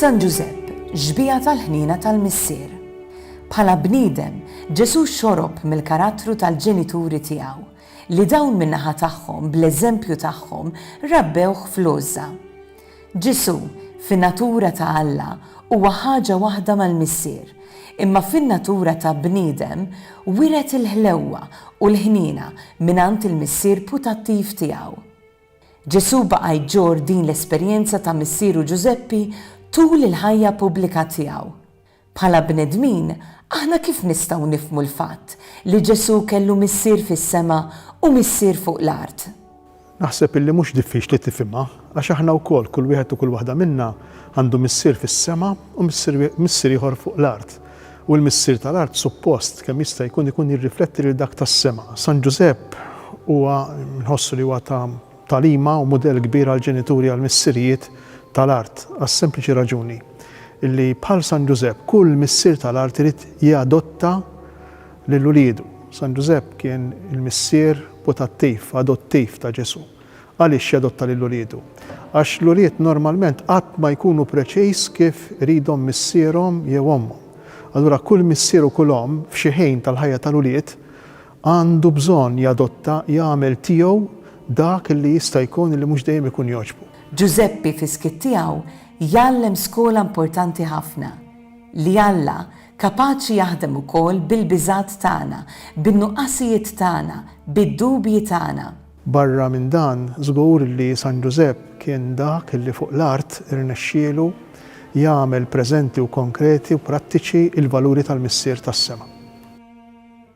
San Ġużepp, ġbija tal-ħnina tal-missier. Bħala bniedem, Ġesu xorob mill-karattru tal-ġenituri tiegħu, li dawn min-naħa tagħhom bl-eżempju tagħhom rabbewh fl-għożża. Ġesù, fin-natura ta' Alla, huwa ħaġa waħda mal-Missier, imma fin-natura ta' bniedem wiret il-ħlewwa u l-ħniena mingħand il-Missier putattiv tiegħu. Ġesù baqa' jġorr din l-esperjenza ta' missieru Ġużeppi tul il-ħajja pubblika tiegħu. Bħala bnedmin, aħna kif nistgħu nifhmu l-fatt li Ġesù kellu Missier fis-sema u Missier fuq l-art? Naħseb illi mhux diffiċli tifhimha, għax aħna wkoll, kull wieħed u kull waħda minna, għandu Missier fis-sema u Missier ieħor fuq l-art. U l-Missier tal-art suppost, kemm jista' jkun, ikun jirrifletti lil dak tas-sema. San Ġużepp huwa, nħossu li huwa ta' Tagħlima u mudell kbir għall-ġenituri għall-missirijiet tal-art għas-sempliċi raġuni li bħal San Ġużepp kull missier tal-art irid jadotta lil uliedu. San Ġużepp kien il-missier putattiv, adottiv ta' Ġesù. Għaliex jadotta lil uliedu? Għax l-ulied normalment qatt ma jkunu preċiż kif iridhom missierhom jew ommhom. Allura kull missier u kull omm f'xi ħin tal-ħajja tal-ulied Għandu bżonn jadotta, jagħmel tiegħu dak li jista' jkun li mhux dejjem ikun jogħġbu. Ġużeppi fis-skiet tiegħu jgħallem skola importanti ħafna, li Alla kapaċi jaħdem ukoll bil-biżgħat tagħna, bin-nuqqasijiet tagħna, bid-dubji tagħna. Barra minn dan, żgur li San Ġużepp kien dak li fuq l-art irnexxielu jagħmel preżenti u konkreti u prattiċi l-valuri tal-Missier tas-sema.